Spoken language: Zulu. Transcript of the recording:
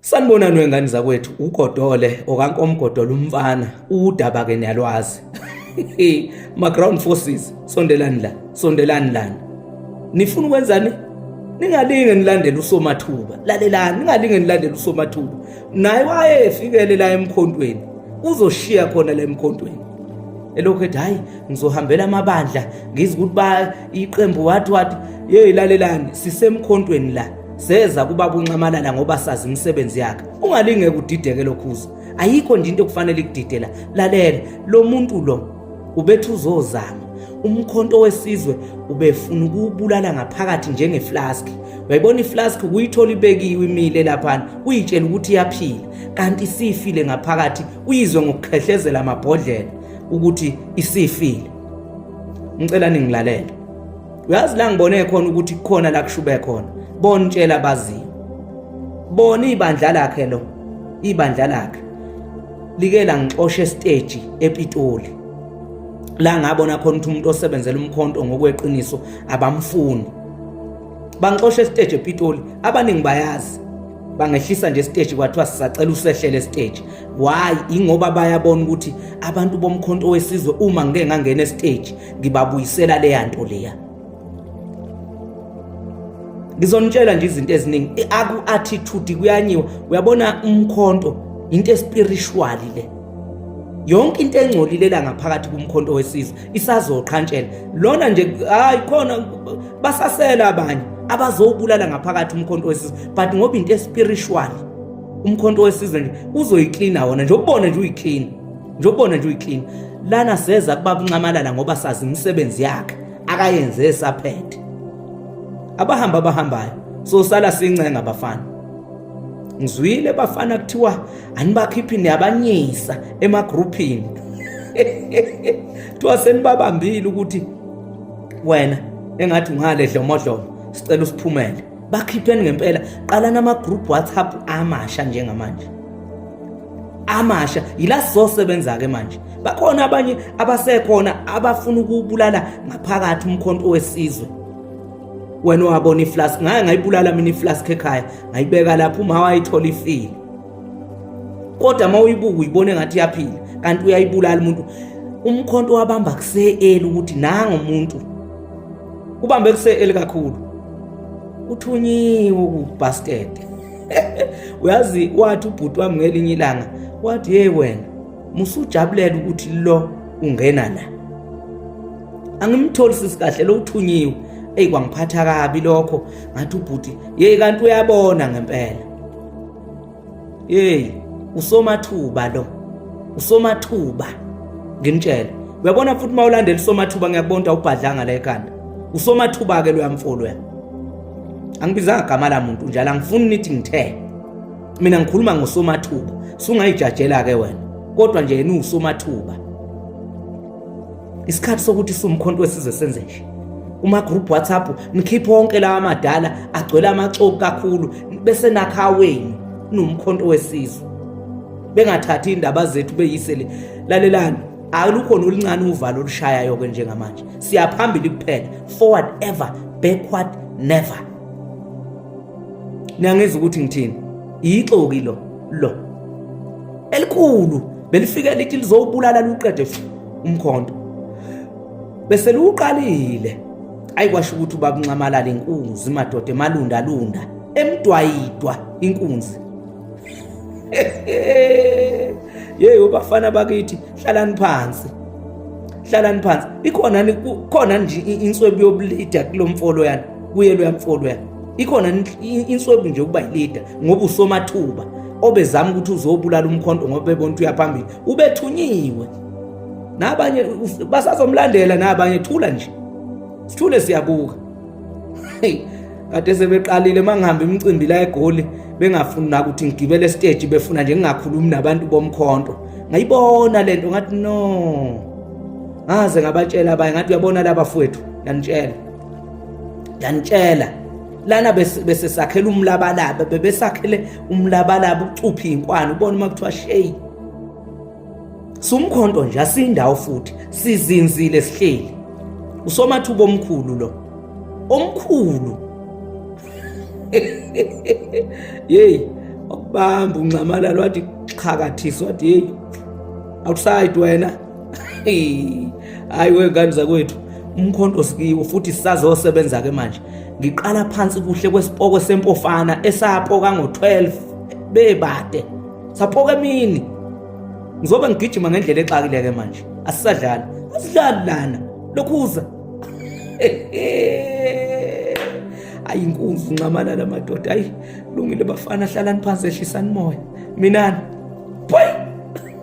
Sanibonani wengane zakwethu uGodole okankomgodola umfana udaba ke niyalwazi ma ground forces sondelani la sondelani lana nifuna ukwenzani ningalinge nilandele usomathuba lalelani ningalinge nilandele usomathuba naye wayefikele la emkhontweni uzoshiya khona la emkhontweni elokhu ethi hayi ngizohambela amabandla ngizi ukuthi ba iqembu wathi wathi yeyi lalelani sisemkhontweni la seza kubaba unxamalala ngoba sazi imisebenzi yakhe ungalingeke udideke lokhuza ayikho nje into okufanele ikudidela lalela lo muntu lo ubethi uzozama umkhonto wesizwe ubefuna ukubulala ngaphakathi njengeflask uyayibona iflask kuyithola ibekiwe imile laphana uyitshela ukuthi iyaphila kanti isifile ngaphakathi uyizwe ngokukhehlezela amabhodlela ukuthi isifile ngicela ningilalele uyazi la ngibone khona ukuthi kukhona la kushube khona bona utshela abaziyo bona ibandla lakhe lo ibandla lakhe like la ngixoshe stage ePitoli la ngabona khona ukuthi umuntu osebenzela umkhonto ngokweqiniso abamfuni bangixoshe stage ePitoli abaningi bayazi bangehlisa nje stage kwathiwa sisacela usehlele stage why ingoba bayabona ukuthi abantu bomkhonto wesizwe uma ngeke ngangena stage ngibabuyisela leya nto leya ngizonitshela nje izinto eziningi aku-attitude kuyanyiwa uyabona umkhonto into espirituali le yonke into engcolile la ngaphakathi kumkhonto wesizwe isazoqhantshela lona nje hayi khona basasela abanye abazowubulala ngaphakathi umkhonto wesizwe but ngoba into espiritual umkhonto wesizwe nje uzoyiklina wona nje ubone nje uyiklina njobona nje uyiclean lana seza kubaba unxamalala ngoba sazi imisebenzi yakhe akayenze esaphethe abahamba abahambayo so sala sincenga bafana ngizwile bafana kuthiwa anibakhiphi niyabanyisa emagrouphini kuthiwa senibabambile ukuthi wena engathi ungale dlomodlomo sicela usiphumele bakhipheni ngempela qalani ama-group whatsapp amasha njengamanje amasha yila sizosebenza-ke manje bakhona abanye abasekhona abafuna ukubulala ngaphakathi umkhonto wesizwe wena wabona iflask ngaye ngayibulala mina iflask ekhaya ngayibeka lapho uma wayithola ifile kodwa uma uyibuka uyibone ngathi iyaphila kanti uyayibulala umuntu umkhonto wabamba kuseeli ukuthi nangomuntu ubambe kuse elikakhulu uthunyiwe kubasket uyazi wathi ubhuti wami ngelinye ilanga wathi hey wena musujabulela ukuthi lo ungena la angimtholi sisi kahle lo uthunyiwe eyi kwangiphatha kabi lokho ngathi ubhuti yeyi kanti uyabona ngempela Hey, usomathuba lo. Usomathuba. Nginitshela. Uyabona futhi uma ulandela usomathuba ngiyakubona ubhadlanga la ekhanda. Usomathuba ke loyamfolo ya. Angibizanga igama la muntu njalo angifuni nithi ngithe. Mina ngikhuluma ngosomathuba. Sungayijajela ke wena. Kodwa nje yena usomathuba. isikhathi sokuthi siwumkhonto wesizwe senze nje uma group WhatsApp nikhiphe wonke lawa madala agcwele amaxoki kakhulu bese nakha wenu nomkhonto wesizwe bengathathi indaba zethu beyisele lalelani alukhona oluncane uvalo olushayayo ke njengamanje siyaphambili kuphela forward ever backward never niyangeza ukuthi ngithini yixoki lo lo elikhulu belifike lithi lizowubulala luqede futhi umkhonto bese luqalile ayikwasho ukuthi ubakunxamalala inkunzi madoda emalunda lunda emdwayidwa inkunzi yeyi ubafana bakithi hlalani phansi hlalani phansi ikhona khona nje inswebu yobulida kulomfolo yana kuye luyamfolo yana ikhona inswebu nje ukuba yilida ngoba usomathuba obezama ukuthi uzobulala umkhonto ngoba bebona ukuthi uyaphambili ubethunyiwe nabanye basazomlandela nabanye thula nje sithule siyabuka kade sebeqalile mangihambe imicimbi la egoli bengafuni na ukuthi ngigibele esiteji befuna nje ngingakhulumi nabantu bomkhonto ngayibona lento ngathi no ngaze ngabatshela abanye ngathi uyabona laba fwethu yanitshela yanitshela lana besesakhela umlabalaba bebesakhele umlabalaba ucuphe inkwana ubona uma kuthiwa shey sumkhonto nje asindawo futhi sizinzile sihleli usomathuba omkhulu lo omkhulu yeyi wakubamba unxamalala wathi xhakathisa wathi yeyi outside wena hayi wengane zakwethu umkhonto sikiwo futhi sisazosebenza ke manje ngiqala phansi kuhle kwesipoko sempofana esapoka ngo-12 bebade sapoka emini ngizobe ngigijima ngendlela exakile ke manje asisadlali asidlali lana lokhuza ayi inkunzi nxamana la madoda ayi lungile bafana hlalani phansi ehlisani moya minani